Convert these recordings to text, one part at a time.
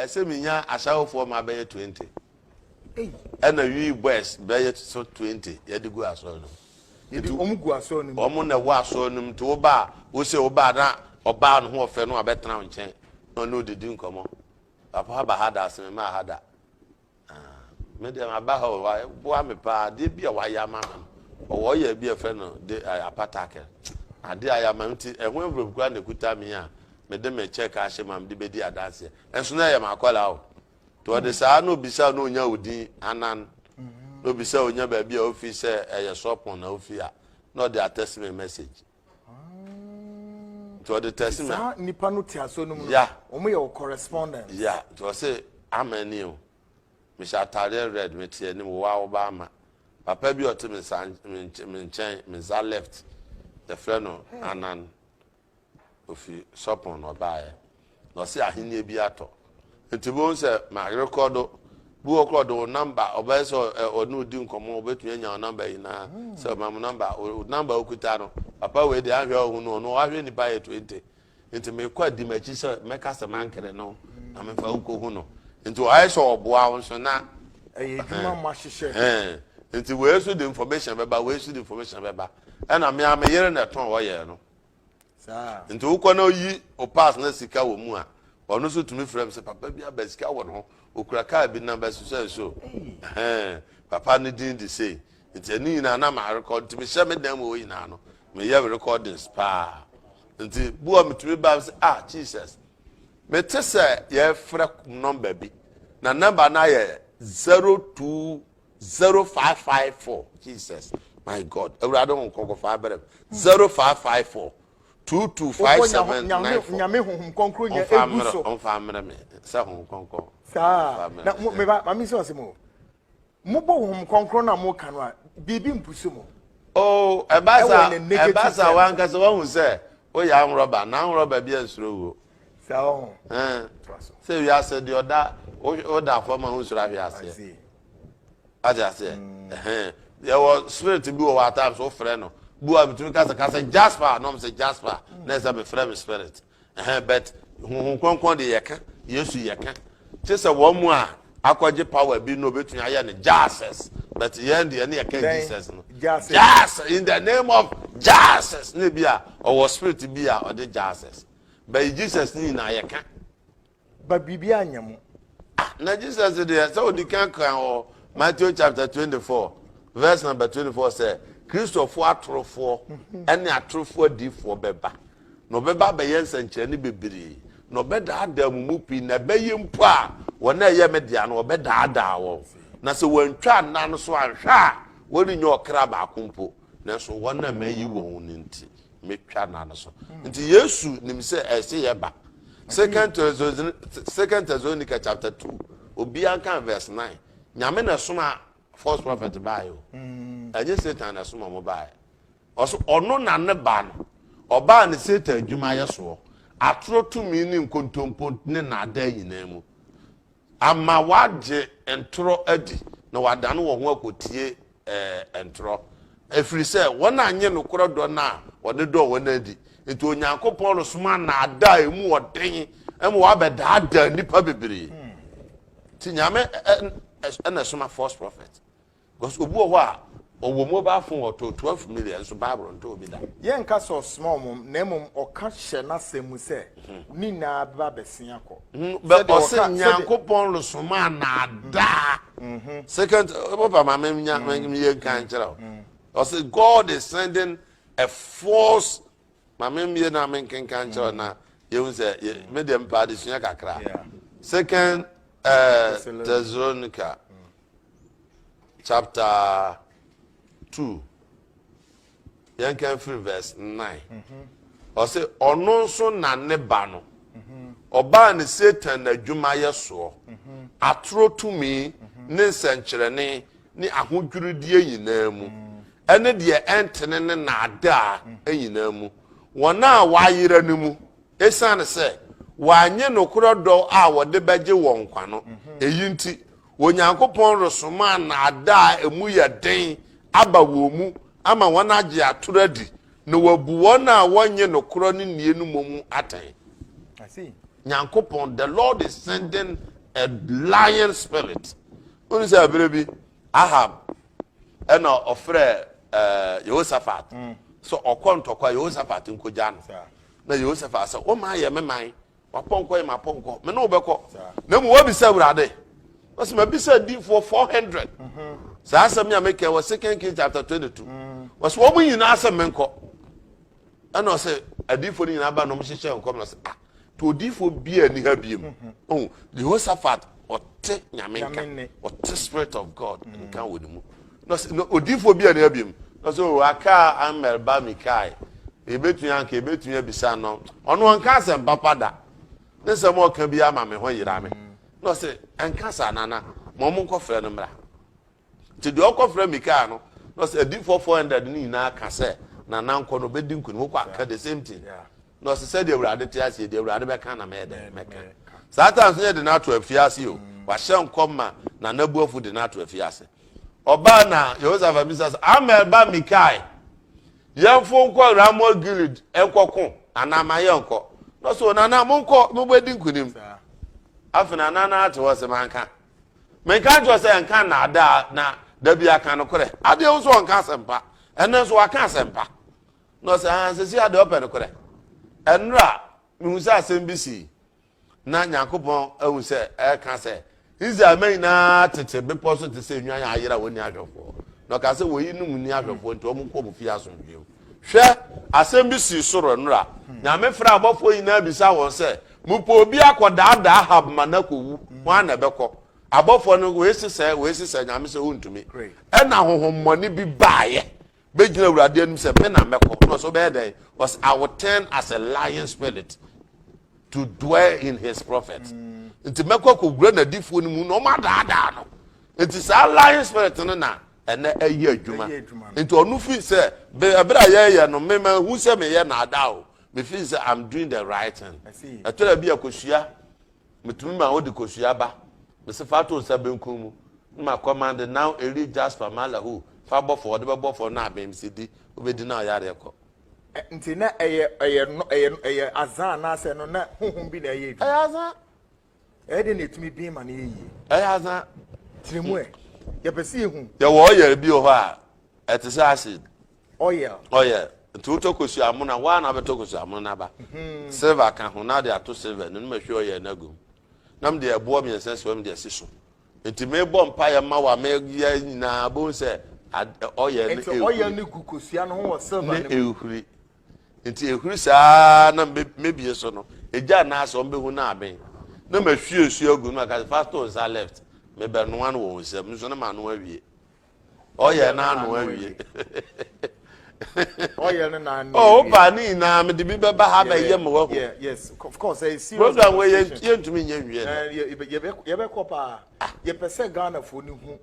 ɛsɛ menya asawofoɔ ma bɛyɛ 20 ɛna wi boys bɛyɛ so 20 yɛde gu asɔre no yɛde wɔn gu asɔre no mu wɔn na ɛwɔ asɔre no mu nti wo ba a wosɛ wo ba na ɔbaa no ho ɔfɛ no abɛtena nkyɛn na ɔne ɔdidi nkɔmɔ Papa aba ha da ase me maa ha da ah, me deɛ maba ha o waboa me paa adeɛ bi a wayɛ ama me no ɔwɔ yɛ bi ɛfɛ no de eh, apata kɛ adeɛ a yɛama me nti ɛho envelope kura na ekuta me a mede me check ahyɛ ma mede bedi adanseɛ ɛnso na ɛyɛ m'akɔla o to ɔde saa na obisa na onya odin anan na obisa onya baabi a ofi sɛ ɛyɛ sɔpɔn na ofi a na ɔde atɛsi me message. nti ɔde tɛsi mi. saa nipa no te aso no mu no wɔn yɛ wɔ correspondence. ya nti ɔse ama ni o mehyɛ ataadeɛ red mete anim wo a woba ama papa bi ɔte me nsa me nkyɛn me nsa left yɛfrɛ no anan ofi sɔpon na ɔbaeɛ na ɔse ahennie bi atɔ nti bohu sɛ marekɔ do bi wɔ korɔ de wo namba ɔbɛyɛ sɛ ɔne odi nkɔmmɔ ɔbɛtumi anya wo namba nyinaa sɛ ɔma mo namba wo namba okuta no papa wei deɛ ahwɛ ɔhu no ɔno ahwɛ nipa yɛ 20 nti mekɔ adi m'akyi sɛ mɛka sɛ mankere no na mefa wokɔhu no nti ɔayɛ sɛ ɔboa wo nso na ɛyɛ adwuma mo ahyehyɛ nti wei so de information bɛba wei so de information bɛba ɛna me a me yere na ɛtɔn ɔyɛ no nti wokɔ na oyi o pass na sika wɔ mu a ɔno nso tumi frɛ m sɛ papa bi aba sika wɔ ne ho okura kaa bi namba so sɛ so ɛhɛn papa ne din de sei nti ɛne nyinaa na maa rekɔd nti mehyɛ me dan mu wɔ nyinaa no meyɛ recordings paa nti bu a metumi ba sɛ ah jesus mete sɛ yɛfrɛ nɔmba bi na nɔmba no ayɛ zero two Zero five five four Jesus my God awurade ho nkɔnkɔfa abɛrɛ mu zero five five four two two five seven nine four nyame ho nkɔnkɔn nyɛ egu so ɔnfa mmerɛ mi sɛ ho nkɔnkɔn saa na mo meba maame sɛ ɔsɛ mo mo bɔ ho nkɔnkɔn na mo ka no a biribi mpusu mo. oo ɛba sa ɛba sa wankasa wahu sɛ woyɛ anwurɔba na anwurɔba bi ansuro wuo. Saa ɔho. Ɛn. Toa so. Sɛ wiase deɛ ɔda woda fam a wonsuro ahwe aseɛ. Ate aseɛ? Mm. Ɛhɛn. Yɛwɔ spirit bi wɔ hɔ at times wofrɛ no. Bu a metumi kasa kasa Jasper na ɔmo sɛ Jasper mm. na ɛsɛ mefrɛ me spirit. Ɛhɛn but huhu kɔnkɔn de yɛka Yesu yɛka. Kye sɛ wɔn mu a akɔgye power bi na obetumi ayɛ no Jesus but yɛn deɛ ne yɛka Jesus no. Jesus in the name of Jesus ne bi a ɔwɔ spirit bi a ɔde Jesus. By Jesus ne nyinaa yɛka. But biribiara nyɛ mo. Ah, na Jesus deɛ sɛ ɔdi kan kan wɔ Matthew chapter twenty four verse number twenty four sɛ kristofoɔ atorofoɔ mhm. ɛne atorofoɔ adiifoɔ bɛba na ɔbɛba abɛyɛ nsɛnkyerɛnne bebree na ɔbɛdaadaa mu mu pii na ɛbɛyɛ mpo a wɔn a ɛyɛ me dea no ɔbɛdaadaa wɔn na sɛ wɔntwa nna no so anhwɛ a wɔrenyɛ ɔkra baako mpo Nanso wɔn a mayi wɔn no nti, metwa no ano so. Nti Yesu nim sɛ ɛyɛ sɛ yɛba. Second Second Thessalonica chapter two, obiara nka verse nine. Nyame na ɛsoma false prophet baayɛ o. Mm. Ɛnyɛ Satan na ɛsoma wɔn baayɛ. Ɔso ɔno na ne ba no. Ɔbaa ne Satan adwuma yɛ soɔ. Atorɔ tumi ne nkontompo ne naadaa nyinaa mu. Ama wɔagye ntorɔ adi, na wɔadane wɔn ho akɔtie ntorɔ, ɛfiri sɛ wɔn annye nokorɛ dɔ no a ɔde dɔɔ wɔn no adi. Enti Onyankopɔn resoma nnaadaa a ɛmu ɔden ma wɔabɛdaadaa nnipa bebree. Nti Nyame na ɛsoma false prophet. Cos obi wɔ hɔ a ɔwɔ mobile phone ɔtɔɔ twelve million nso bible ntɔ obi da. Yɛnka sɛ ɔsoma wɔn na mmom ɔka hyɛ n'asɛm mu sɛ ne nyinaa bɛba abɛsen akɔ. Bɛ ɔse Nyankopɔn resoma anaadaa. Second papa ma me nya me yɛ nkan kyerɛ o. Ɔse God is sending a false ma me mmie na me nkenkan kyerɛ na yɛhu sɛ me deɛ mpɛ adesua kakra. Second Thessalonica. chapter two yɛn kan firi verse nine ɔsɛ ɔno nso na ne ba no ɔbaa ne satan n'adwumayɛ soɔ atoro tumi ne nsɛnkyerɛnne ne ahodwirideɛ nyinaa mu ɛne deɛ ɛntene ne naadaa nyinaa mu wɔn a wɔayera no mu esiane sɛ wɔanye nokorɛ dɔ a wɔde bɛgye wɔn nkwa no eyi nti Onyankopɔn resoma nnaadaa a emu yɛ den aba wɔn mu ama wɔagye atoro adi, na wɔabu wɔn a wɔnnye nokorɛ no nnie no mmom ho atɛn. I see. Nyankopɔn, the Lord is sending a lying spirit. Wonu sɛ ɛberɛ bi Ahab ɛna ɔfrɛ eh, Yehoshaphat mm. sɛ ɔkɔ ntɔkwa Yehoshaphat nkogya no. Na Yehoshaphat sɛ, womaa yɛ me man W'apɔnkɔ yɛ m'apɔnkɔ, me ne wo bɛkɔ. Na mmom wabisa Awurade. Wɔsi mabisa adiifoɔ four hundred. Mhm. Saa asɛm yi a mekɛ wɔ Second Kings chapter twenty two. Mm. Wɔsi wɔn nyinaa sɛ menkɔ. Ɛna ɔsɛ adiifoɔ no nyinaa ba na wɔn hyehyɛ nkɔm na ɔsɛ ah to odiifoɔ bi a ni ha biem. Mhm. Ɔn Jehoshaphat ɔte nyame nka ɔte spirit of God nka wɔ ne mu. Na ɔse, na odiyifoɔ bi anni hɔ bio? Na ɔse, oh, aka a Ammɛl ba Mikael. Yɛbɛtumi anka, yɛbɛtumi abisa no, ɔno ɔnka asɛm papa da. Ne nsɛm a ɔka biara ma me ho yera me. Na ɔse, ɛnka saa, Nana, ma wɔn nkɔfrɛ no mmra. Nti deɛ ɔkɔfrɛ Mikael no, na ɔse, adiyifoɔ 400 no nyinaa ka sɛ, Nana nkɔ na ɔbɛdi nkunim. Wokɔ a, ka the same thing. Na ɔse, sɛdeɛ Awurade te ase yi, deɛ Awurade bɛka na mɛyɛ dɛn? Mɛka. Satan nso yɛde no ato afiase o. Wahyɛ nkɔm ma Nana Boafo de no ato afiase. Ɔbaa na Yehosafat bisa sɛ, Amiel ba Mikae, yɛmfo nkɔ Ramot Gilead nkɔko anaa ma yɛnkɔ? Na ɔsɛ onana monkɔ mobɛdi nkonim. Afei na nana ate hɔ sɛ manka. Menka nkyerɛ sɛ nka nnaadaa na da bi aka nokorɛ. Adeɛ wo nso ɔnka asɛmpa. Ɛnɛ nso waka asɛmpa. Na ɔsɛ ahansɛsi adeɛ ɔpɛ nokorɛ. Ɛnora mehu sɛ asɛm bi sii. na nyankopɔn ahu sɛ ɛka sɛ israel ma nyinaa tete bepɔ so te sɛ nnwan a ayera wɔn ni ahwɛfoɔ na ɔka sɛ wɔyi nom ni ahwɛfoɔ nti wɔn kɔ mu fie asomdwe mu hwɛ asɛm bi sii soro nnora nyame frɛ abɔfoɔ nyinaa bisa wɔn sɛ mopɛ obi akɔdaadaa hab ma no akɔwu ho ana ɛbɛkɔ abɔfoɔ no wɔasi sɛ wɔasi sɛ nyame sɛ wontumi ɛna honhommɔne bi baeɛ bɛgyina awurade anim sɛ me na mɛkɔ na ɔsɛ wobɛyɛ dɛn ɔsɛ i will turn as a lion spirit to dwell in his prophet mm. nti mɛkɔ akɔwura n'adifoɔ no mu na ɔma adaadaa no nti saa lion spirit no na ɛnɛ ɛyɛ adwuma nti ɔno fi sɛ ɛberɛ a yɛyɛ no mema hu sɛ meyɛ naadaa o mefi sɛ i'm doing the right thing ɛtɔ da bi akɔsua Metumi ma wode kosua ba. Mese fa to nsa benkum mu na ma kɔmande now eri jasper mala hu fa bɔ fɔ ɔde bɛbɔ fɔ na abem se di wobedi na ɔyareɛ kɔ. Ɛ nti na ɛyɛ ɛyɛ no ɛyɛ no ɛyɛ azan anaasɛ ɛno na honhom bi na ɛyɛ adwuma. Ɛyɛ azan. Ɛyɛ dɛn na ɛtumi bin ma no yɛ yie. Ɛyɛ azan. Kyerɛ mu ɛ. Yɛpɛ sɛ yɛhu. Yɛwɔ ɔyare bi wɔ hɔ a ɛte sɛ acid oil. oil nti wotɔ kosua amona waa na abɛtɔ kosua amona no aba mhm. silver ka ho na ade ato silver no no mahwie oil no agum na mede ɛboɔ mmiɛnsa si hɔ mede asi so nti mebɔ mpaeɛ ma wa meyɛ nyinaa bohu sɛ oil no ɛhuri oil no gu kosua no ho wɔ silver no mu ne ɛhuri nti ɛhuri saa na mebie so no ɛgya anaasɛ ɔmbɛhu no aben na mahwie nsuo agu no maka sɛ fasto nsa left mebɛnoa no wɔ wo nsam nso no manoa wie ɔyɛ no ano awie ɔyɛ no n'ano oh, awie ɔba ne nyinaa mede bi bɛba ha bɛyɛ ma wahu Yeah, yes of course ɛyɛ serious program wei yɛn- conversation. yɛntumi nyɛ nwie no Eh, yɛ- yɛ- yɛbɛ- yɛbɛkɔ paa yɛpɛ sɛ ghanafoɔ no hu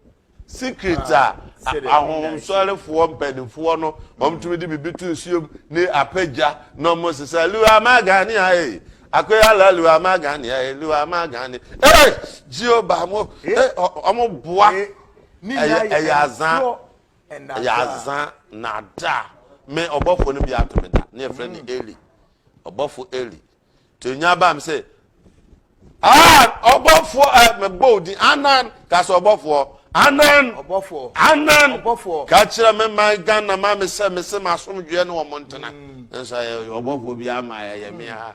secret a Ah, sɛ dɛ, ahonhomsɔrefoɔ mpanimfoɔ no wɔtumi de biribi to nsuom ne apagya na ɔmo sesa liwa magane ae akoyala liwa magane ae liwa magane ee jehova mo eh, ɔ- ɔmo boa Eh, Ne nna yɛ ɛyɛ azã ntorɔ ɛnna ɛyɛ daa. azã na da me ɔbɔfoɔ no bi ato me da ne yɛfrɛ no eli ɔbɔfo eli nti onya baa me sɛ ah ɔbɔfoɔ ɛ eh, mebɔ wo din anan ka sɛ ɔbɔfoɔ anan Ɔbɔfoɔ. anan Ɔbɔfoɔ. ka kyerɛ me man ghana ma me sɛ me se m'asomdwoeɛ ne wɔn ntena nanso ɛyɛ ɔbɔfoɔ bi ama ɛyɛ me ha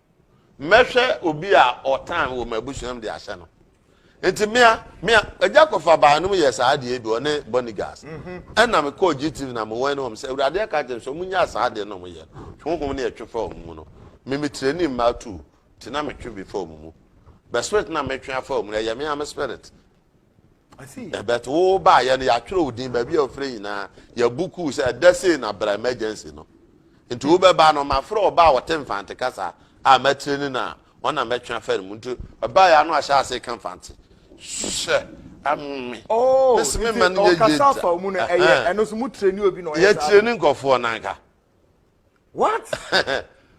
mɛhwɛ obi a ɔtan wɔ m'abusua mu de ahyɛ no nti mmea mmea agya kɔfa baanom yɛ saa adeɛ bi ɔne bonigas mhm. ɛna me kɔɔ gtv na mewɔn ne wɔn sɛ awurade aka kyerɛ sɛ ɔmunya saa adeɛ na ɔmoyɛ honhom ne ɛtwe fa wɔn mu no me me tirani mmaa tu nti na metwe bi fa wɔn mu bɛ spirit na metwe afa wɔn mu no ɛyɛ me ame spirit Ɛbɛto wo baayɛ no yɛatwerɛ wo din baabi a wofrɛ nyinaa yɛbu kuu sɛ ɛda sei na bra emergency no nti hmm. wobɛba no mafrɛ ɔba a ɔte mfante kasa a mɛtire ne no a ɔna mɛtwe afa no mu nti ɛbaeɛ ano ahyɛ ase ka mfante hyɛ ɛme oh, meseme ma no yɛyɛ gya yɛtire ne nkɔfoɔ no anka what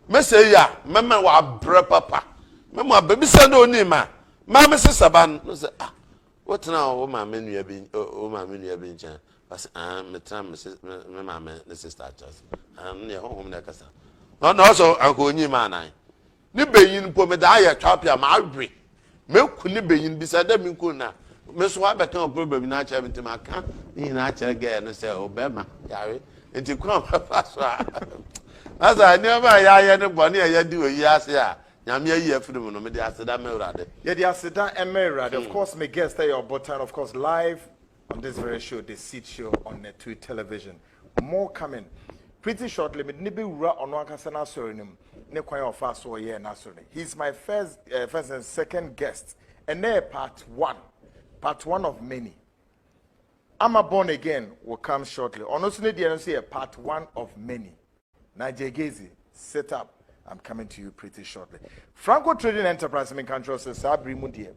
mɛsɛ ya mɛmɛ wɔ abrɛ papa mɛmɔ abɛbisa dɛ ɔni ma maame sesa ba no sɛ ah wotena wo maame nua bi wo maame nua bi nkyɛn ɔsɛ ah metena me maame ne sista akyɛse ah ne ɛhɔ hom na ɛkasa na ɔsɛ anka ɔnyi ma anan Ne benyin mpo mede ayɛ twapia mawe. Meku ne benyin bi sɛ dɛ minkum no a, me so wɔabɛka problem nyina akyerɛ me ntsi maka ne nyina akyerɛ girl no sɛ o bɛrima yare ntsi kwan a wɔbɛfa so a na sɛ nneɛma a yɛayɛ ne bɔne a yɛde wɔ wiase a Nyame ayi afiri mu no mede aseda ma Awurade. Yɛde aseda ma Awurade. Of course me guest yɛ Ɔbotan, of course live on this very show the seed show on netui television more coming pretty shortly mede ne bɛwura ɔno ankasa no asɔre no mu ne kwan a ɔfa so ɔyɛɛ no asɔre no he is my first, uh, first and second guest ɛnɛ part one part one of many ama born again will come shortly ɔno nso ne deɛ no nso yɛ part one of many Nigel Gezi, sit up, I'm coming to you pretty shortly. Franco Trading Enterprise mi nka nkyerɛ sɛ saa bere mu deɛ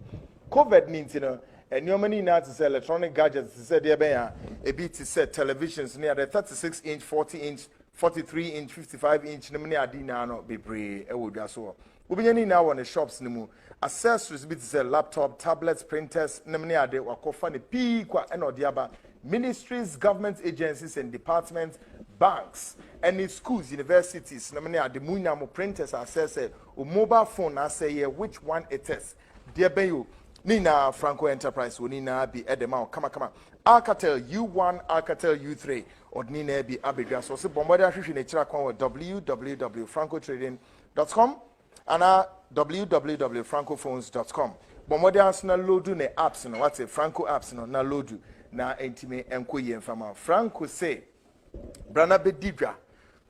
COVID ni nti no nneɛma no nyinaa te sɛ electronic gadgets te sɛ deɛ bɛn a ebi te sɛ televisions ne ade 36 inch, 40 inch, 43 inch, 55 inch nom ne ade nyinaa no bebree wɔ dwa so hɔ. Wobenya ne nyinaa wɔ ne shops no mu. Accessories bi te sɛ laptop, tablets, printers nom ne ade, wakɔfa no pii kwa na ɔde aba. Ministries, government agencies and departments, banks ne schools, universities nom ne ade, mo nyinaa mo printers asɛesɛe, wo mobile phone no asɛe yɛ which one it is, deɛ bɛn o, ne nyinaa Franco Enterprise wɔ ne nyinaa bi de ma wo kamakama. Alcatel U1, Alcatel U3, ɔde ne nyinaa bi abɛdwa so. Ɔse bɔ mmɔden ahwehwe n'akyiri akwan wɔ www.francotrading. Com anaa www.francophones.com. Bɔ mmɔden ara so na loodu ne apps no, wate, Franco apps no, na loodu na ɛntumi nkɔ yie mfa ma wo. Franco se, Bra na bɛdi dwa.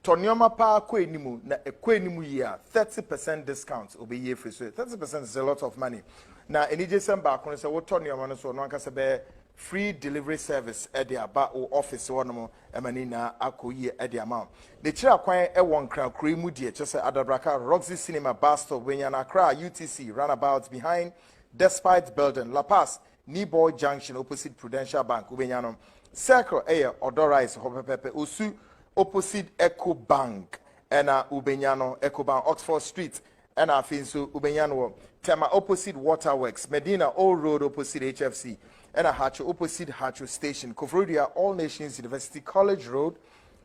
Tɔ nneɛma paa kɔ anim, na ɛkɔ anim yie a, thirty percent discount, ɔbɛyi afiri so. Thirty percent is a lot of money. Na anigyesɛm baako no, sɛ wotɔ nneɛma no nso, ɔno ankasa bɛyɛ free delivery service de aba wo ɔfese hɔnom Ɛma ne nyinaa akɔ yie de ama wo. Ne kyiri akwan wɔ Nkran kuro yi mu deɛ, kyerɛ sɛ Adabraka, Roxy Cinema, Bus Stop, Wenyana, Accra, UTC, Runabout, Behind Despite Building, La Paz, Niboi Junction, Opposite Prudential Bank, wobɛnya no. Circle yɛ Ɔdɔ Rise hɔ pɛpɛɛpɛ, Osu, Opposite Ecobank na wobɛnya no, Ecobank, Oxford Street, Ɛna afei nso wobɛnya no wɔ Tema opposite Water Works, Medina Old Road opposite HFC, ɛna Hacho opposite Hacho Station, Koforidua All Nations University College Road,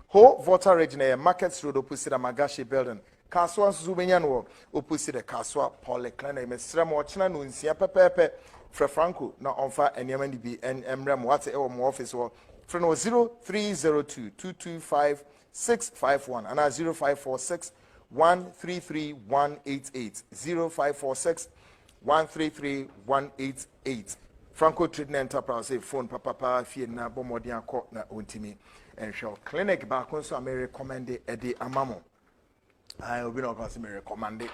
Ho Volta Regina yɛ Markets Road opposite Amagashi Building, Kasoa nso so wobɛnya no wɔ opposite the Kasoa Polyclinic. Mesrɛ mo ɔkyena nonsia pɛpɛɛpɛ frɛ Franco na ɔmfa nneɛma no bi mmrɛ mo, wate, ɛwɔ mo office hɔ. Frɛ no wɔ 0302 225 six five one anaa zero five four six one three three one eight eight zero five four six one three three one eight eight franco trading enterprise sɛ phone papapa fie na bɔ mmɔden akɔ na ɔntumi nhwɛ clinic baako nso a merekɔmɛnde ɛde ama mo Ae, obi na ɔka sɛ merekɔmande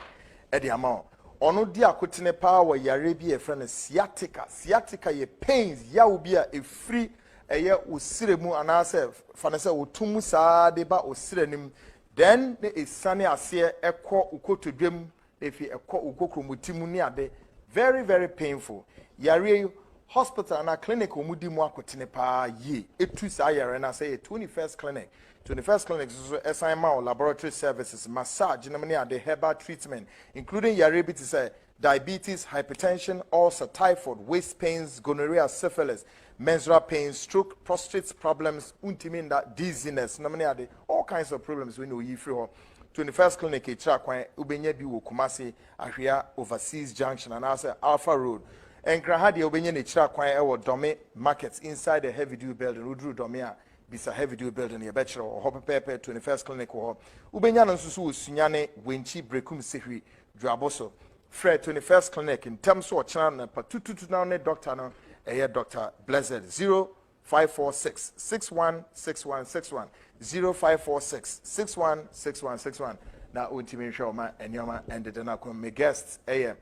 de ama wo. Ɔno di akotene paa wɔ yareɛ bi a yɛfrɛ no sciatica. Sciatica yɛ pains, yaw bi a ɛfiri ɛyɛ wo serɛ mu anaasɛ fa no sɛ woto mu saa de ba wo serɛ no mu. Then na ɛsiane aseɛ ɛkɔ wo kotodwam Efi ɛkɔ wo kokromoti mu ne ade very very painful yareɛ yi hospital anaa clinic a wɔn di mu akotene paa yie etu saa yareɛ no asɛ yɛ twenty first clinic twenty first clinic nso so ɛsan ma wo laboratory services massage nom ne ade herbal treatment including yareɛ bi te sɛ diabetes hypertension ulcer typhoid waist pains gonorrhea syphilis menstrual pains stroke prostate problems wontumi nda dizziness nom ne ade all kinds of problems wei na oyi firi hɔ. Twenty First Clinic rekyerɛ kwan wobɛnya bi wɔ Kumasi, Ahwea, Overseas Junction anaasɛ Alpha Road. Nkran ha deɛ wobɛnya no akyira kwan wɔ Dɔme Market inside the Heavy Dew Building. Woduru Dɔme a, bisa Heavy Dew Building yɛbɛkyerɛ wo. Wɔ hɔ pɛpɛɛpɛ Twenty First Clinic wɔ hɔ. Wobɛnya no nso so wɔ Sunyani, Wenchi, Brekum, Sehwi, Dwuabo so. Frɛ Twenty First Clinic ntɛm so ɔkyena anɔpa tututu na wo ne dɔkta no ɛyɛ Doctor Blessed. Zero five four six six one six one six one zero five four six six one six one six one na wɔntumi nhwɛ ɔma nneɛma ɛndede no akɔm me guest ɛyɛ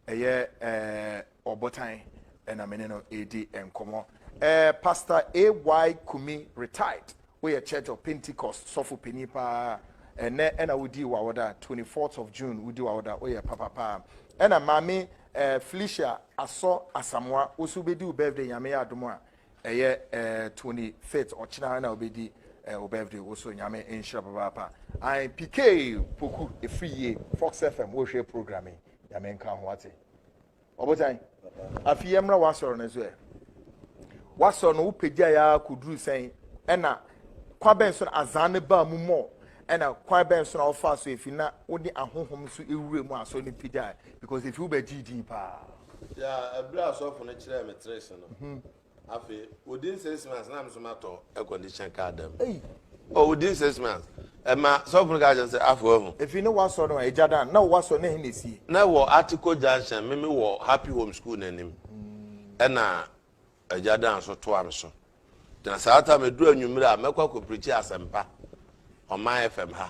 ɛyɛ ɛɛ ɔbotan ɛna me ne no ɛredi nkɔmɔ ɛɛ pastor ay kumi retired Woyɛ Church of Pentecost sɔfo panyin paa ɛnɛ ɛna wodii w'awoda 24th of June wodi w'awoda woyɛ papa paa ɛna maame eh, Felicia Asɔ Asamoa woso wobɛdi wo birthday nyame yɛ adom a ɛyɛ eh, 25th ɔkyena ɛna wobɛdi eh, wo birthday woso nyame nhyira papaapa I PK Poku ɛfiri yie Fox FM wohwɛ program yi nyame nka ho ate Ɔbotan, afi yɛmmra w'asɔre no so ɛ. W'asɔre no wopagya yɛ ara kɔduru sɛn? Ɛna kwan bɛn so na azan no baa mu mmɔ? Ɛna kwan bɛn so na wɔfaa so efi na wode ahonhom nso ewura mu a asɔre no pagyae? Because efi wobɛgyee din paa. Yaa, ɛberɛ a asɔfo no kyerɛɛ me trace no, mhm. Afei within six months na nso ma tɔ air condition car da mu. Eyi. Oh within six months. Ɛma sɔfo no ka kyerɛ sɛ afɔ ahu. Efi ne wasɔ no a egya dan na wasɔ na ɛhe na esie. Na ɛwɔ Article junction me me wɔ Happy Home school n'anim ɛna egya dan so toa me so. Gyina saa ta me duru anwummere a mɛkɔ akɔ preachi asɛmpa ɔman FM ha.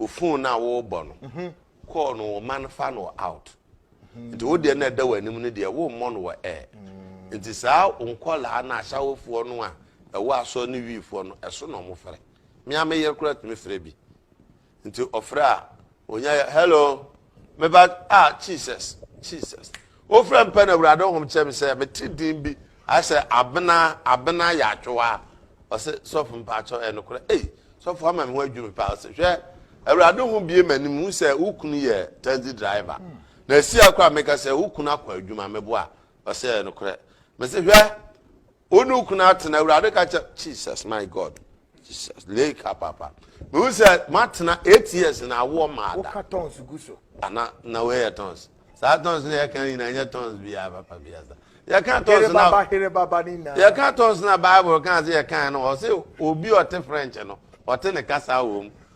ofon no a worebɔ no call no wo ma no fa no out nti wo deɛ na ɛda w'anim no deɛ wommɔ no wɔ air nti saa nkɔlaa no ahyɛwofoɔ no a ɛwɔ asɔ ne wiifoɔ no ɛso na ɔmo frɛ mmea me yere koraa tumi frɛ bi nti ɔfrɛ a onya hello Meba ah Jesus Jesus. Wofrɛ mpɛ na Awurade honhom kyɛ me sɛ mete din bi asɛ abena abena yɛatwewa ɔsɛ sɔfo mpakyɛw ɛyɛ nokorɛ ei sɔfo ama me ho adwiri me paa ɔsɛ hwɛ Awurade ho bie m'anim hu sɛ wo kunu yɛ taxi driver na ɛsi akora meka sɛ wo kunu akɔ adwuma meboa ɔsɛ ɛyɛ nokorɛ mese hwɛ wo ne wo kunu atena awurade ka kyɛ jesus my god jesus leka papa mehu sɛ moatena eight years na awoɔ maada woka tons gu so ana na woyɛ tons saa tons na yɛka nyina nyɛ tons biaa papa biasa yɛka tons na yɛka tons na bible ka sɛ yɛka no ɔse obi ɔte french no ɔte ne kasa wɔ mu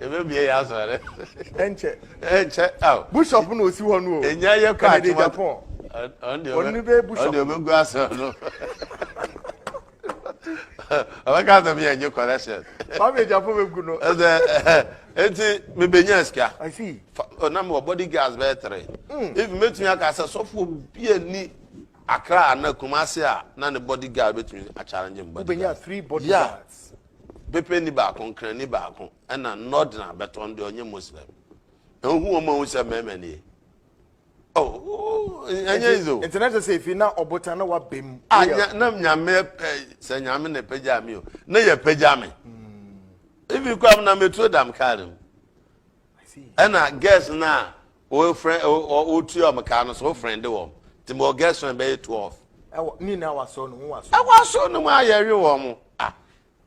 Ebe bie yɛ asɔre dɛ. Ɛnkyɛ. Ɛnkyɛ aw. Bishop na osi hɔ no o. Enya yɛ kɔ atwuma. Kennedy Japan. Ɔno ne bɛ bishop. Ɔno bɛ gu asɔre no. Ɔbɛka asɛm yɛ nye correction. Kwame Japan bɛ gu no. Ɛsɛ eti mi bɛ nya sika. I see. Ɔnam wɔ body guards bɛyɛ three. Hmm. If mɛtumi aka sɛ sɔfo bi a ni Accra ana Kumasi a na ne body guard bɛtumi a challenge mu body guards. Wobɛnya three body guards. Yeah. Bepɛni baako nkrani baako na nɔden a bɛtɔ no deɛ ɔnyɛ Muslim. Ehu wɔn a wɔn sɛ mmarima nie. Oh, ɛnyɛ easy o. Nti na kyerɛ sɛ efi na ɔbotan na wabɛ mu. A nya na nyame pɛ sɛ nyame na pagya mi o. Na yɛ pagya mi. Efi kura mu na meturo dam kaa mu. Ɛna girls na O frɛ o o tu wɔn kaa no so o frɛnde wɔn ti mɔ gɛs fɛn bɛ yɛ twelve. Ɛwɔ ne nyinaa wɔ asɔɔ no mu wɔ asɔɔ. Ɛwɔ asɔɔ no mu a yɛ we wɔn mo ah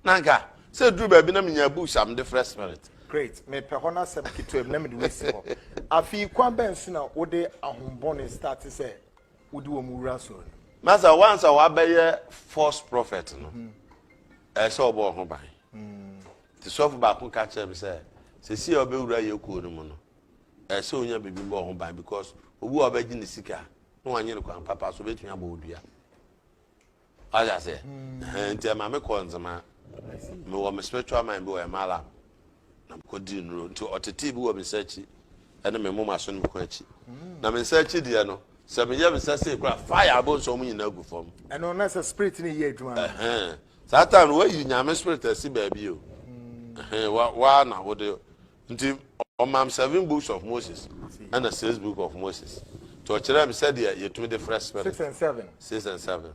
na nka sɛ eduru baabi na mi nya books a mi de frɛ spirit. Great me pɛ hɔ no asɛm ketewa bi na mi de wei si hɔ afei kwan bɛn so na wo de ahombɔne start sɛ wo de wɔn wura asɔɔ no mu. Masa once a wabɛ yɛ false prophet no ɛsɛ ɔbɔ ɔho ban ti sɔfo baako ka kyerɛ mi sɛ sɛsi a ɔbɛ wura yɛ kuo no mu no ɛsɛ sɛ onya biribi bɔ ho ban because obi wɔ ɔbɛgye ne sika na wanyɛ no kwan papa so obetumi abɔ odua ɔyɛ aseɛ hmm. nti ɛma me kɔ nzema me wɔ me spiritual mind bi wɔ ɛma alam na me kɔ di nnuro nti ɔtete bi wɔ me nsa akyi ɛne me moma so ne me kɔn akyi hmm. na me nsa akyi deɛ no sɛ meyɛ me nsa sei kora fire abɔ nsɔm nyinaa gu fam ɛno na sɛ spirit no yɛ adwuma saa time no wayi nyame spirit asi baabi o hmm. waa na wode Nti ɔmaa me seven books of Moses ɛna six book of Moses nti ɔkyerɛɛ me sɛdeɛ yɛtumi de frɛ spirit six and seven six and seven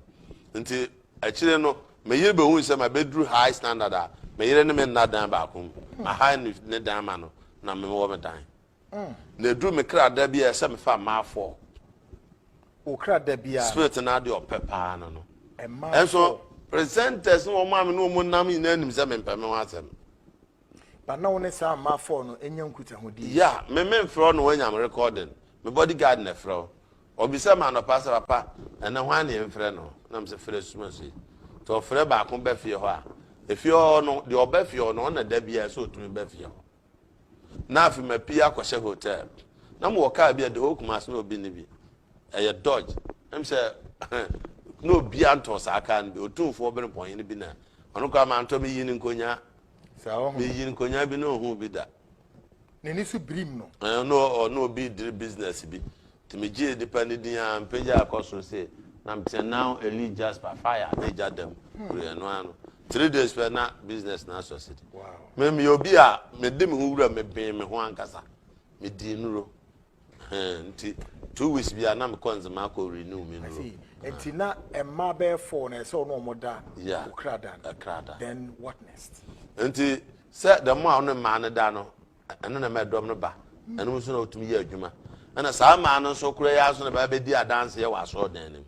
nti akyire no me yere bɛhu sɛ ma bɛduru high standard a me yere ne me nna dan baako mu mm. aha ne dan ma no na me wɔ me dan mm. na ɛduru me kra da bi a ɛsɛ me fa mmaa foɔ okra da bi a spirit no adeɛ ɔpɛ paa no no ɛnso presenters ne wɔn a me ne wɔn nam nyinaa nim sɛ mempɛ me ho asɛm But na wo ne saa mmaa four no nya nkutahodie. Yeah, me me nfrɛ wo na wanyam recording. Me body guard na ɛfrɛ wo. Ɔbisa me anɔpa sɛ papa ɛnɛ hwan na yɛnfrɛ no? Na me sɛ frɛ Sumaso yi. Nti ɔfrɛ baako ba fie hɔ a, efie hɔ hɔ no deɛ ɔba fie hɔ no ɔnna da biara sɛ ɔtumi ba fie hɔ. Na afei mapii akɔhyɛ hotel. Na mewɔ car bi a the whole Kumasi na obi nni bi. Ɛyɛ Dodge. Na me sɛ na obiara ntɔɔ saa car no bi. Otumfoɔ Benepɔn hene bi na ɔno koraa mantɔ me yii no nkonyaa. Saa ɔho no. Meyi nkonyaa bi na ohuu bi da. N'ani so birim no. Ɛɛ, na ɔ, na obi rediri business bi. Nti megyee nipa no din ara, mepagyaa kɔ soro se, na meteɛ, Now Elie Jasper, fire! Na egya da mu. Hurry! Ɛno ara no. Three days pɛ, na business no asucceed. Wow! Me, meyɛ obi a mede me ho wura, mebee me ho ankasa. Medii nnuro. Ɛhɛn, ntsi two weeks biara na mekɔ ndzema akɔ renew me nuro. I see, ntsi na mmaa bɛyɛ four na ɛsɛ ɔno wɔn da yeah, wo kra da no, kra da. Then what next? Ntsi sɛ dɛm a ɔne mmaa no da no, ɛno na ɛma ɛdɔm no ba, ɛno nso na ɔtumi yɛ adwuma. Ɛna saa mmaa no nso koraa yi ara nso na ɛbɛba bɛdi adanseɛ wɔ asɔɔdan no mu.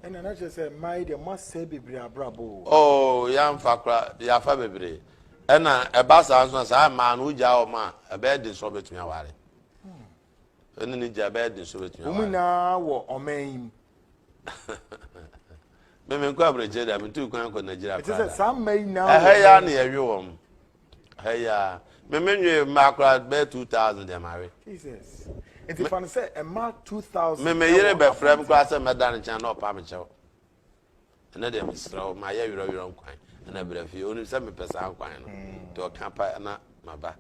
Ɛna na kyerɛ sɛ mmaa yi deɛ mo asɛe bebree abrabɔ o. Oh, yɛamfa koraa, yɛafa bebree. Ɛna ɛba saa nso na saa mmaa no wogyaa wɔn a, ɛbɛyɛ den sɛ wɔbɛtumi aware. Ɛne ne gya bɛyɛ den so bɛtumi aware. Wɔn nyinaa wɔ ɔman yi mu. Me menkɔ aberɛkyɛ da metu kwan kɔ Nigeria koraa. Ɛte sɛ saa mma yi nyinaa wɔ. Ɛhɛ ya na yɛwe wɔn. Ɛhɛ ya. Me menwe mmaa koraa bɛyɛ two thousand deɛ mawe. Jesus. Nti fa no sɛ mmaa two thousand. Me me yere bɛfrɛ m koraa sɛ mɛda ne nkyɛn na ɔpa me kyɛw. Ɛnɛ deɛ mesrɛ wo ma yɛ werɛwerɛ nkwan ɛna brɛ fie. Onim sɛ mepɛ saa nkwan no. Nti ɔka pa na maba.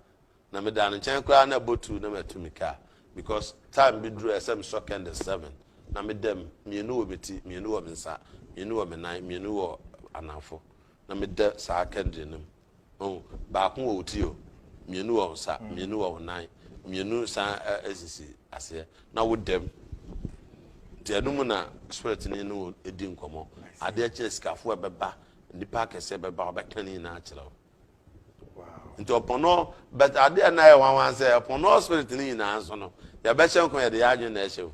na medaa no nkyɛn koraa na ɛbɔ two na matu mika because time bi duru a ɛsɛ mesɔ candle seven na meda mu mmienu wɔ me ti mmienu wɔ me nsa mmienu wɔ me nan mmienu wɔ anafo na meda saa candle no mu oh baako wɔ wo ti o mmienu wɔ wo nsa mmienu wɔ wo nan mmienu san sisi aseɛ na wo dam nti ɛno mu na spirit ne no di nkɔmmɔ adeɛ kyerɛ sikafo a ɛbɛba nnipa akɛseɛ bɛba wɔbɛka ne nyinaa kyerɛ wo nti ɔpɔn no but adeɛ a na yɛ nwanwa sɛ ɔpɔn no spirit no nyinaa nso no yɛbɛhyɛ nko yɛde yɛ adwene na ɛhyɛ o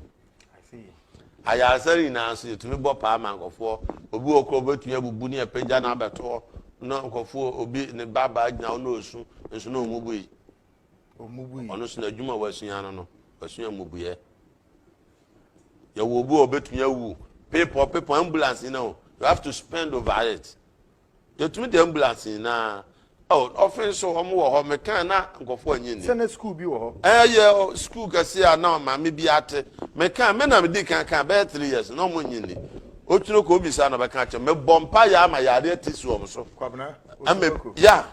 ayaresa no nyinaa nso yɛtumi bɔ paa ma nkɔfoɔ obi wɔ korɔ obɛtumi abubu ne apagya no abɛtoɔ na nkɔfoɔ obi ne babaa gyina wo na ɔsu nso na ɔmubu yi ɔno so na adwuma a wasua no no wasua mmubuiɛ yɛwɔ obi a ɔbɛtumi awu pepɔ pepɔ ambulance yi no you have to spend over it Yɛtumi de ambulance nyinaa. Oh, ɔfe nso wɔn wɔ hɔ. Mekaa na nkɔfoɔ anyi ni. Sɛ na sukuu bi wɔ hɔ. Ɛyɛ sukuu kɛseɛ a na maame bi ate. Mekaa me na medi kan kaa bɛyɛ three years na wɔn anyi ni. Otwene kɔ obisa na ɔbɛka akyerɛ. Mebɔ mpaeɛ ama yareɛ atisi wɔn so. Kwabena Osuako. Ya.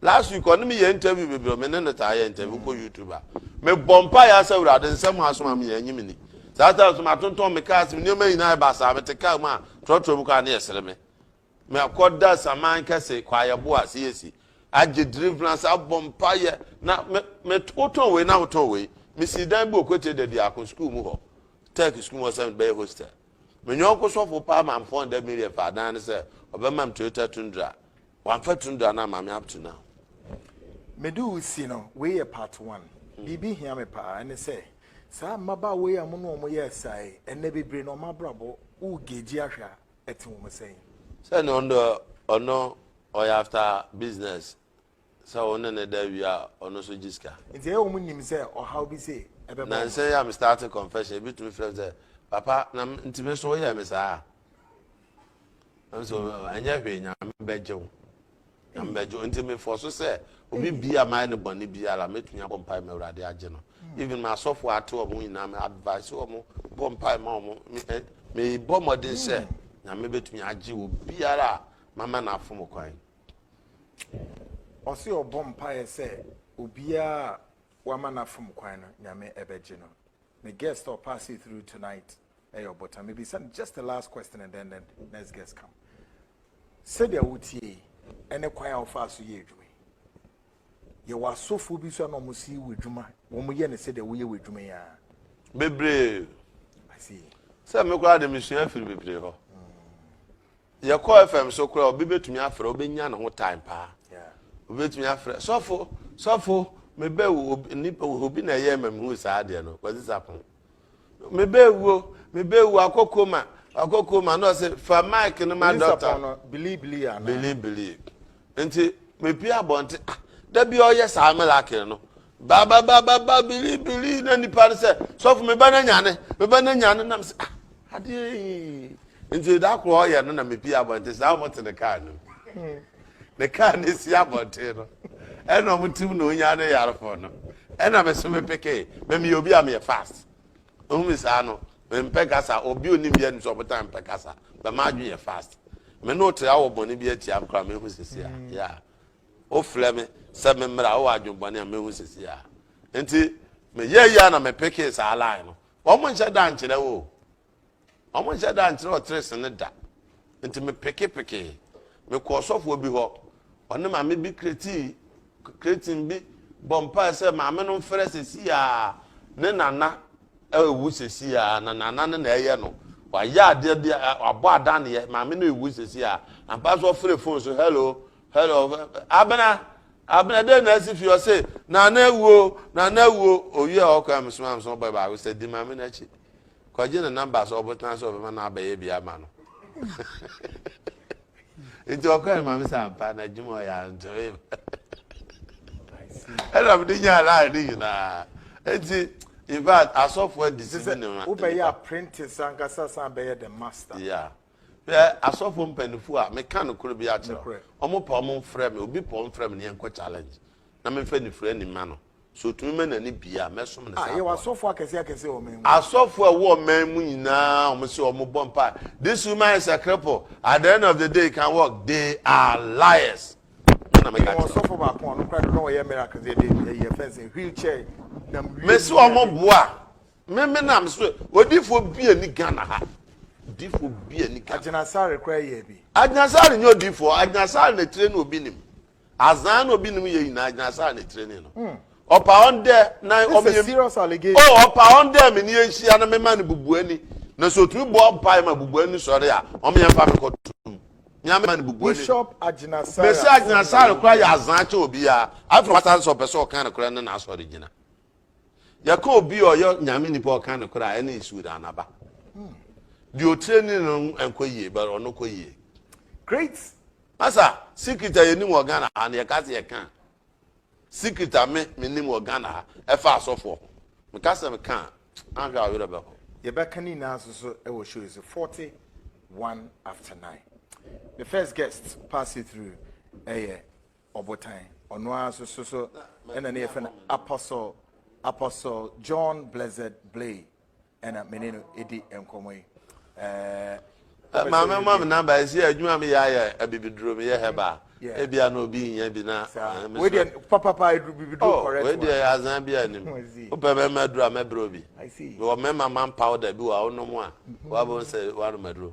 Last week ɔne me yɛ interview bebree me ne no taa yɛ interview kɔ YouTube a. Mebɔ mpaeɛ asɛ awurade nsɛm a asoma me yɛ anyi me ni. Saa time nso matontɔn me car ase me nneɛma nyinaa yɛ basaa mete car mu a trɔtrɔ mu koraa na yɛsere me. Meakɔda Saman kɛse, kwaeɛbo a siesie, agye deliverance, abɔ mpaeɛ, na me, me, wotɔn wei na wotɔn wei. Mesii dan bi wɔ Kwete da biako, sukuu mu hɔ, Turk sukuu mu hɔ sɛ bɛyɛ hostel. Me yɔnko sɔfo paa maa me 400 million faa dan no sɛ ɔbɛma me Toyota Tundra. Wamfa Tundra no amma me up to now. Mede wo si no, wei yɛ part one. Biribi hia me paa, ɛne sɛ, saa mmabaawa yi a mo ne wɔn yɛɛ saa yi, ɛnnɛ bebree na wɔn abrabɔ, wo gauge ahwɛ a, ɛte wo ho sɛn? Sɛ ne ɔno deɛ ɔno ɔyɛ after business sɛ wo ne ne da wie a ɔno nso gye sika. Nti ɛyɛ wɔn nim sɛ ɔhaw bi se ɛbɛbɔ wɔn. Nansa yi a me start confession ebi tumi frɛ sɛ papa na nti me so woyɛ me saa. Nso ɛnyɛ hwee nyame bɛgye wo. na mebɛgye nti me fɔ so sɛ obi bia mayɛ no bɔne biara mɛtumi abɔ mpae ma awurade agye no hmm. even ma asɔfoɔ ate ɔmo nyinaa me advice ɔmo bɔ mpae ma ɔmo mebɔ eh, mmɔden sɛ hmm. nyame bɛtumi agye wɔ biara a mama no afo mo kwan ɔse ɔbɔ mpaeɛ sɛ obiara wama no afom kwan no nyame ɛbɛgye no me guest ɔpass through tonight Ɛyɛ ɔbotan. Mebisa no just the last question and then the next guest come. Sɛdeɛ wotie yi, ɛne kwan a wofaa so yɛ adwuma yi. Yɛwɔ asɔfoɔ bi so a na wɔn si wɔ adwuma, wɔn yɛ no sɛdeɛ woyɛ wɔ adwuma yi ara. Bebree. I see. Sɛ me koraa de mesua afiri bebree hɔ. Yɛkɔ FM so koraa obi betumi afrɛ, obenya ne ho time paa. Obetumi afrɛ sɔfo sɔfo mebɛ wo obi na ɛyɛ ma mehu saa adeɛ no kwasi sapon. mebɛwuo mebɛwuo akɔ koma akɔ koma na ɔsɛ fa mic no ma dɔkta bilibili ana bilibili nti mepi abɔnte ah da bi ɔyɛ saa melakere no babababa bilibili na nipa no sɛ sɔfo meba no nyane meba no nyane nam sɛ ah adeɛ yi nti da korɔ ɔyɛ no na mepi abɔnte saa wɔte ne kaa no hmm. ne kaa no si abɔnten no ɛna ɔmo tim na onya ne yarefo no ɛna me so me peke mɛ meyɛ obi a meyɛ fast ohun mi saa no mempɛ kasa obi onim bi anim sɛ ɔmo tan mpɛ kasa bɛ ma adwene yɛ fast me no te awɔ bɔne bi atia m koraa mehu sisi a mm. ya wofrɛ me sɛ me mmra wowɔ adwene bɔne a mehu sisi a nti meyɛ yia na mepeke saa line no wɔn nhyɛ da nkyerɛ wo Wɔnhyɛ da nkyerɛ ɔterese no da. Nti mepekepekee. Mekɔɔ ɔsɔfoɔ bi hɔ. Ɔne maame bi kretii kretin bi bɔ mpae sɛ maame no mfrɛ sɛsi a ne nana awu sɛsi a na nana no na ɛyɛ no. Wayɛ adeɛ bi a wabɔ adaneɛ maame no ewu sɛsi a ampa so ɔfrɛ fon so hello hello abena abena dɛ na asi fi ɔse nana awuo nana awuo owie a ɔkɔ a mesoma mesoma bɔ baako sɛ di maame no akyi. Kɔgye ne nɔmba sɛ ɔbotan sɛ ɔbɛma no abɛyɛ bi ama no. Nti ɔkɔe ma me sɛ ampa na adwuma ɔyɛ antoe ma. Ɛna mede nyaa line no nyinaa. Nti in fact asɔfo adi si me ne ma nipa. Wobɛyɛ apprentice ankasa san bɛyɛ the master. Yeah. Hwɛ asɔfo mpanyinfo a meka nokore bi akyerɛ wo. Wɔn pɛ wɔn mfrɛ me, obi pɛ wɔn mfrɛ me ne yɛnkɔ challenge na memfa anifere ani mma no. Sɛ otumi ma n'ani bue a, mɛsom no sɛ akoa. Ah, yɛwɔ asɔfo akɛse akɛse wɔ ɔman mu. Asɔfo a ɛwɔ ɔman mu nyinaa, wɔn se wɔn bɔ mpae. This woman is a cripple, at the end of the day he can walk, they are liars. Ɛna meka kyerɛ. Yɛwɔ ɔsɔfo baako a ɔno koraa no na ɔyɛ miracles yɛde ɛyɛ fɛnsɛn wheelchair nam wheel. Mesi wɔn boa. Me me nam so odifoɔ bi a ni Ghana ha odifoɔ bi a ni Ghana. Agyinasare koraa yɛ bi. Agyinasare nyɛ odifoɔ agyinasare na tire no obi nim azan na obi nim yɛ nyinaa agyinasare na tire ne no. Hmm. Ɔpa wɔn dɛ na ɔmo yɛ serious allegation. Oh ɔpa wɔn dɛ mi ni yɛ nhyia na mi ma ne bubu ani na so otumi bɔ ɔpa yɛ ma bubu ani sɔre a ɔmo yɛ nfa mi kɔ tum mi ama ne bubu ani. Bishop Agyinasare. Mesi Agyinasare koraa yɛ azan kyɛ obiara afei wasan sɛ ɔpɛ sɛ ɔkan ne koraa ne na asɔre gyina. Yɛka obi a ɔyɛ Nyame nipa a ɔka nokorɛ a, ɛne Sudan aba. Deɛ ɔtire ni no nkɔ yie, but ɔno kɔ yie. Great. Masa, secret a yɛnim wɔ Ghana ha no, yɛka sɛ yɛka a, secret a me menim wɔ Ghana ha, ɛfa asɔfoɔ ho. Meka sɛ meka a, anhwɛ a ɔwerɛ bɛho. Yɛbɛka ne nyinaa nso so wɔ show yi so, 41 after 9. Me first guest pass you through ɛyɛ Ɔbotan, ɔno ara nso so so ɛna ne yɛfrɛ no Apostle Apostle John Blessed Blay ɛna me ne no ɛdi nkɔmmɔ yi. Eh, maame ma me namba ɛsi adwuma me yɛ ayɛ abibiduro me yɛ hɛba ebia na obi nyɛ bi na wei papapa eduru bibiduro oh, correct wei deɛ azan bi anim wopɛ mɛma aduru a mɛbrɛ obi mewɔ mɛma man powder bi wɔ a wonom a wabɔ sɛ wanom aduro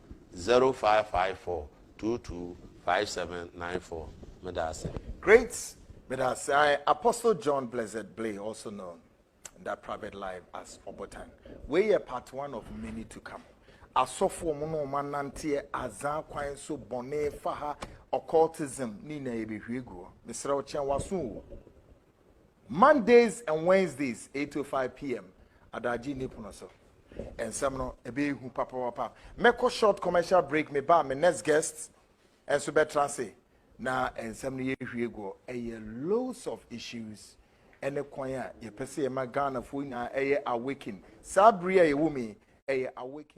zero five five four two two five seven nine four meda ase. Great meda ase I Apostle John Blessed Blay also known in that private life as Obotan wei yɛ part one of many to come asɔfoɔ mu no ɔma nanteɛ azan kwan so bɔne faha occultism ne nyinaa yɛbɛhwie guɔ mesrɛ wo kyɛn waso o Mondays and Wednesdays, eight to five pm, Adagye nni pono so. Nsɛm no ɛbɛyɛ hu papapapa. Mɛkɔ short commercial break, me ba, me next guest nso bɛtra ase na nsɛm no yɛhwie guɔ. Ɛyɛ loads of issues ɛne kwan a yɛpɛ sɛ yɛma Ghanafoɔ nyinaa ɛyɛ awaken. Saa bere a yɛwɔ mu yi, ɛyɛ awaken.